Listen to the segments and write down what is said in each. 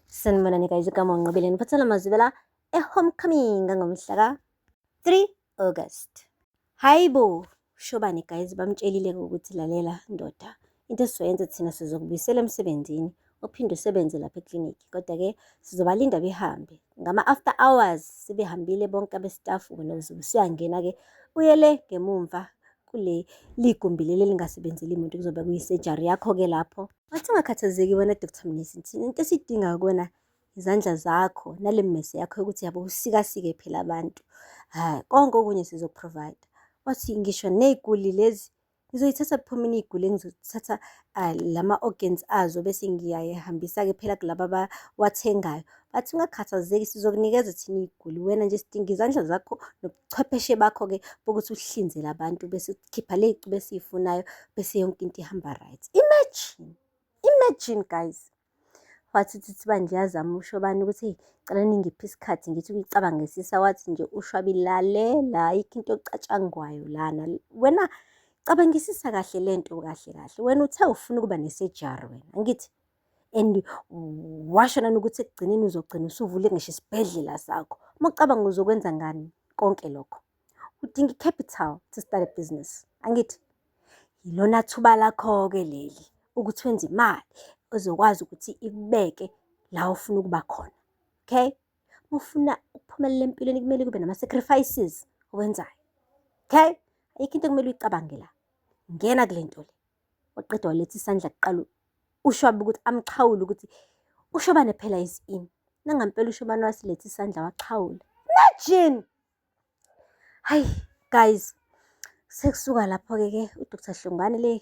Sanibonani guys, igama uNqobile ngiphathela amazwi vela e-homecoming ngomhla ka 3 August. Hayibo, shobani guys bamtshelile ukuthi lalela ndoda. Into esizoyenza thina sizokubuyisela emsebenzini uphinde usebenze lapha eclinic kodwa ke sizobalinda behambe ngama after hours sebehambile bonke abestaff wena uzobe usuyangena ke uyele ngemumva kule ligumbi leli elingasebenzeli muntu kuzobe kuyisurgery yakho ke lapho Wathi ungakhathazeki wena Dr Mnisi, thina into esidinga kuwena izandla zakho nale mmese yakho yokuthi yabo usikasike phela abantu hayi konke okunye sizokuprovide wathi ngisho ney'guli lezi ngizoyithatha kuphuma iniyigule ngizothatha ah, lama organs azo bese ngiyayihambisa ke phela kulaba abawathengayo bathi ungakhathazeki sizokunikeza thina iy'guli wena nje sidinga izandla zakho ubuchwepheshe bakho-ke bokuthi uhlinzele abantu bese ukhipha le y'cubu esiyifunayo bese yonke into ihamba right imagine imagine guys wathi uthi thiba ndiyazama usho bani ukuthi eyi cela ningiphi isikhathi ngithi ukuyicabangisisa wathi nje ushwabi lalela ayikho into ocatshangwayo lana wena cabangisisa kahle le nto kahle kahle wena uthe ufuna ukuba nesejari wena angithi and washo nani ukuthi ekugcineni uzogcina usuvule ngisho isibhedlela sakho. Uma ucabanga uzokwenza ngani konke lokho, udinga i-capital to start a business, angithi? Yilona thuba lakho-ke leli ukuthi wenze imali ezokwazi ukuthi ikubeke la ofuna ukuba khona, okay? Uma ufuna ukuphumelela empilweni kumele kube nama-sacrifices owenzayo, okay? Ayikho into ekumele uyicabange la, ngena kule nto le. waqeda waletha isandla kuqala ushwabe ukuthi amxhawule ukuthi ushobane phela isini nangampela ushobane wasiletha isandla waxhawula imagine hayi guys sekusuka lapho-ke ke udr hlongane le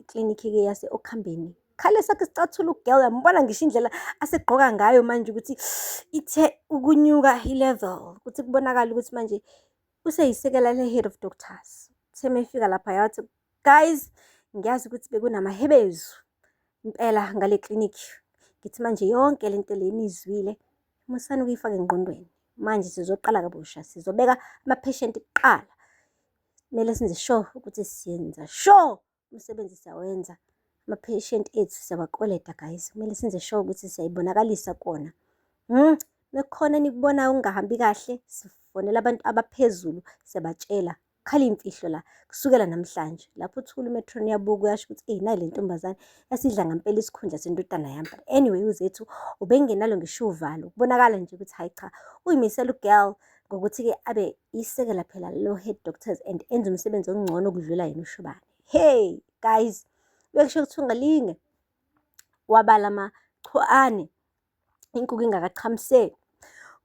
iklinikhi-ke yase-okhambeni khale sakhe sicathula ugirl yambona ngisho indlela asegqoka ngayo manje ukuthi ithe ukunyuka i-level ukuthi kubonakala ukuthi manje useyisekela le-head of doctors semefika lapha yathi guys ngiyazi ukuthi bekunamahebezu impela ngale clinic ngithi manje yonke le nto le nizwile musani ukuyifaka engqondweni manje sizoqala kabusha sizobeka amapheshenti kuqala kumele senze sure ukuthi siyenza sure umsebenzi siyawenza amapheshenti ethu siyawakoleta guys kumele senze sure ukuthi siyayibonakalisa kona um mekhona enikubonayo okungahambi kahle sifonela abantu abaphezulu siyabatshela Khala imfihlo la kusukela namhlanje lapho uthula umetron yabuka uyasho ukuthi eyi nayi le ntombazane yasidla ngampela isikhundla sendodana yami but anyway uzethu ubengenalo ngisho uvalo kubonakala nje ukuthi hayi cha uyimisela ugirl ngokuthi-ke abe isekela phela lo head doctors and enze umsebenzi ongcono ukudlula yena ushubane hey guys bekusho ukuthi ungalinge wabala amachuane inkukhu ingakachamiseki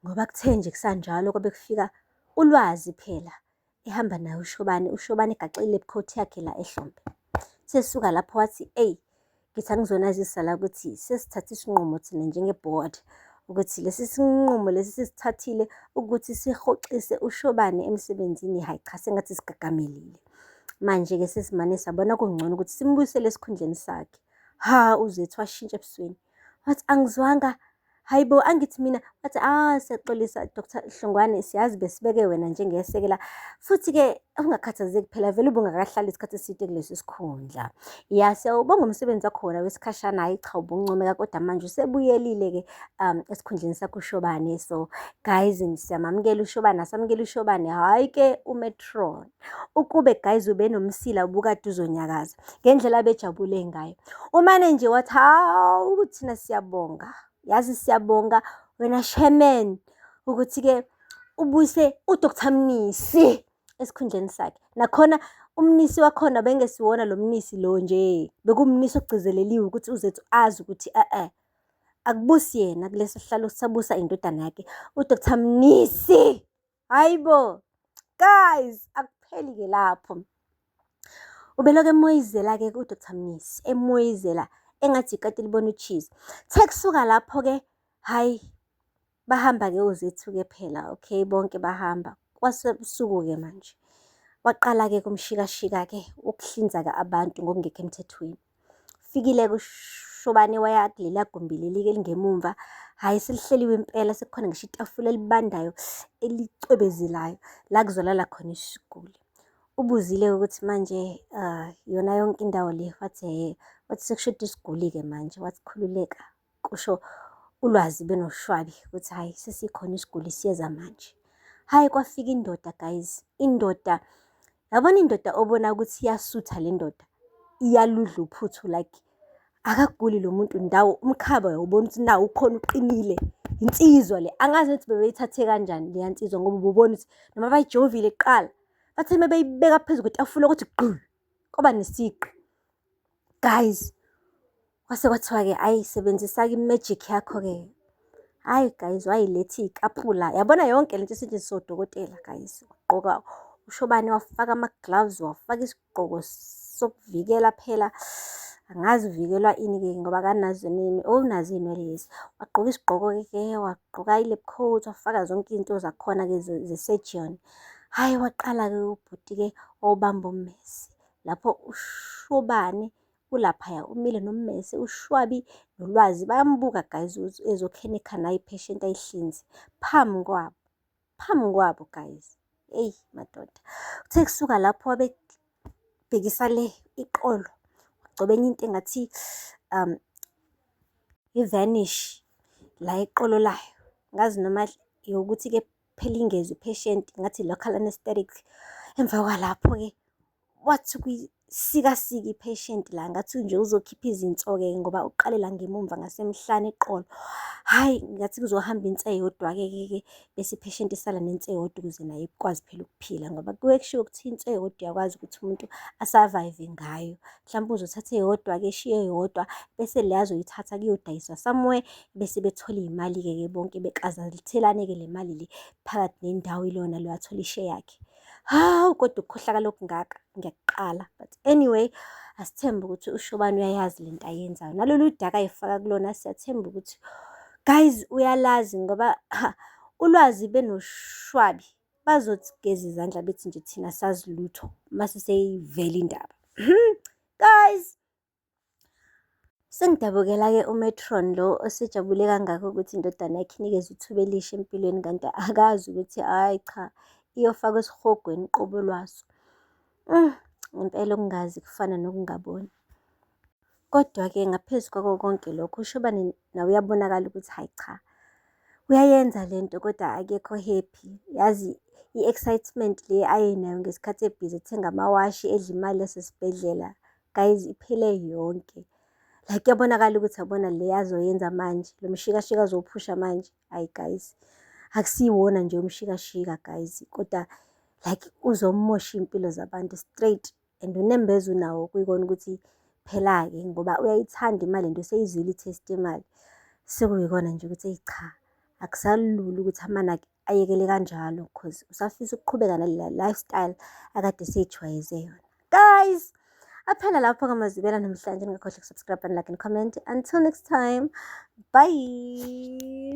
ngoba kuthe nje kusanjalo kwabe kufika ulwazi phela ehamba naye ushobane ushobane egaxile ebukhoti yakhe la ehlombe sesuka lapho wathi eyi ngithi angizonazisa la ukuthi sesithathe isinqumo thina njenge-board ukuthi lesi sinqumo lesi sisithathile ukuthi sihoxise ushobane emsebenzini hhayi cha sengathi sigagamilile manje-ke sesimane sabona kungcono ukuthi simbuyisele esikhundleni sakhe ha uzethu washintsha ebusweni wathi angizwanga hayi bo angithi mina wathi ah siyaxolisa Dr Hlongwane siyazi besibeke wena njengesekela futhi-ke ungakhathazeki phela vele ubungakahlali isikhathi eside kulesi sikhundla ya siyawubonga umsebenzi wakhona wesikhashana hhayi cha ubuncomeka kodwa manje usebuyelile-ke um esikhundleni sakho ushobane so guys siyamamukela ushobane asamukela ushobane hhayi-ke umetron Ukube guys ubenomsila ubukade uzonyakaza ngendlela abejabule ngayo. Umane nje wathi hawu kuthina siyabonga. Yazi siyabonga wena chairman ukuthi ke ubuyise uDr Mnisi esikhundleni sakhe. Nakhona umnisi wakhona bengesiwona lo mnisi lo nje. Bekumnisi ogcizeleliwe ukuthi uzethu azi ukuthi eh eh akubusi yena kulesi sihlalo sabusa indodana yakhe uDr Mnisi. hayi bo guys akupheli ke lapho ubelokhu emoyizela ke ku Dr Mnisi emoyizela engathi ikati libona ucheese the kusuka lapho ke hayi bahamba ke uzethu ke phela okay bonke bahamba kwasebusuku ke manje waqala ke kumshikashika ke ukuhlinza ke abantu ngokungekho emthethweni Fikile kushobane waya kulela gumbi leli elingemumva. Hhayi selihleliwe impela sekukhona ngisho itafula elibandayo elicwebezelayo la kuzolala khona isiguli. Ubuzile ukuthi manje uh, yona yonke indawo le wathi hhe wathi sekushoda isiguli-ke manje wathi khululeka kusho ulwazi benoshwabi ukuthi hhayi sesikhona isiguli siyeza manje hhayi kwafika indoda guys indoda yabona indoda obona ukuthi iyasutha le ndoda iyaludla uphuthu like akaguli lo muntu ndawo umkhaba uyawubona ukuthi nawo ukhona uqinile insizwa le angazi ukuthi bebeyithathe kanjani leya nsizwa ngoba ububona ukuthi noma bayijovile kuqala bathe uma beyibeka phezu kwetafula ukuthi gqulu kwaba nesiqu Guys, kwase kwathiwa-ke ayi sebenzisa-ke i-magic yakho-ke. Hhayi guys, wayilethi ikaphula. Yabona yonke le nto esetshenziswa odokotela guys. Wagqoka ushobane, wafaka ama-gloves, wafaka isigqoko sokuvikela phela angazi uvikelwa ini-ke ngoba kanazo nini owunazo iy'nwele lezi wagqoka isigqoko-ke ke wagqoka i-lab coat wafaka zonke izinto zakhona-ke ze-surgeon hhayi waqala-ke ubhuti-ke wawubamba ummesi lapho uShobane ulaphaya umile nommese ushwabi nolwazi bayambuka guys ukuthi ezokhenikha naye patient ayihlinze phambi kwabo phambi kwabo guys eyi madoda kuthe kusuka lapho wabebhekisa le iqolo wagcoba enye into engathi um i-vanish la iqolo layo ngazi noma yokuthi-ke phela ingezi patient ngathi local anesthetic emva kwalapho-ke wathi kuyisikasika i-patient la ngathi nje uzokhipha izinso-ke ngoba uqale la ngemumva ngasemhlane eqolo hhayi ngathi kuzohamba inse eyodwa-ke ke bese i-patient isala nense eyodwa ukuze naye ikwazi phela ukuphila ngoba kuye kushiwo ukuthi inse eyodwa uyakwazi ukuthi umuntu asavayive ngayo mhlawumbe uzothatha eyodwa-ke eshiye eyodwa bese le azoyithatha kuyodayiswa somewhere bese bethola iy'mali-ke ke bonke bekazalithelane-ke le mali le phakathi nendawo ilona lo athola ishe yakhe hawu kodwa ukukhohlakala okungaka ngiyakuqala but anyway asithembe ukuthi ushobani uyayazi le nto ayenzayo nalolu daka ayifaka kulona siyathemba ukuthi guys uyalazi ngoba ha, ulwazi benoshwabi bazothi geza izandla bethi nje thina sazi lutho uma siseyivela indaba hmm, guys Sengidabukela-ke uMatron lo osejabule kangaka ukuthi indodana yakhe inikezwe ithuba elisha empilweni kanti akazi ukuthi hhayi cha iyofakwa esihogweni qobo lwaso. Mm, ngempela ukungazi kufana nokungaboni. Kodwa-ke ngaphezu kwako konke lokho uShobane naye uyabonakala ukuthi hhayi cha, uyayenza le nto kodwa akekho happy. Yazi i-excitement le ayenayo ngesikhathi ebhizi ethenga amawashi edla imali yasesibhedlela, guys iphele yonke. Like kuyabonakala ukuthi yabona le azoyenza manje, lo mshikashika azowuphusha manje, hhayi guys. Akusiwona nje umshikashika guys, kodwa like uzomoshwa iy'mpilo zabantu straight. And unembeza unawo kuyikona ukuthi phela-ke ngoba uyayithanda imali and useyizwile i-taste yemali. Sekuyikona nje ukuthi eyi cha, akusalula ukuthi amanaki ayekele kanjalo cause usafisa ukuqhubeka nale lifestyle akade eseyijwayeze yona. Guys! Aphela lapho ngamazibela namhlanje ningakhohlwa ukusubscribe and like and comment. Until next time, bye!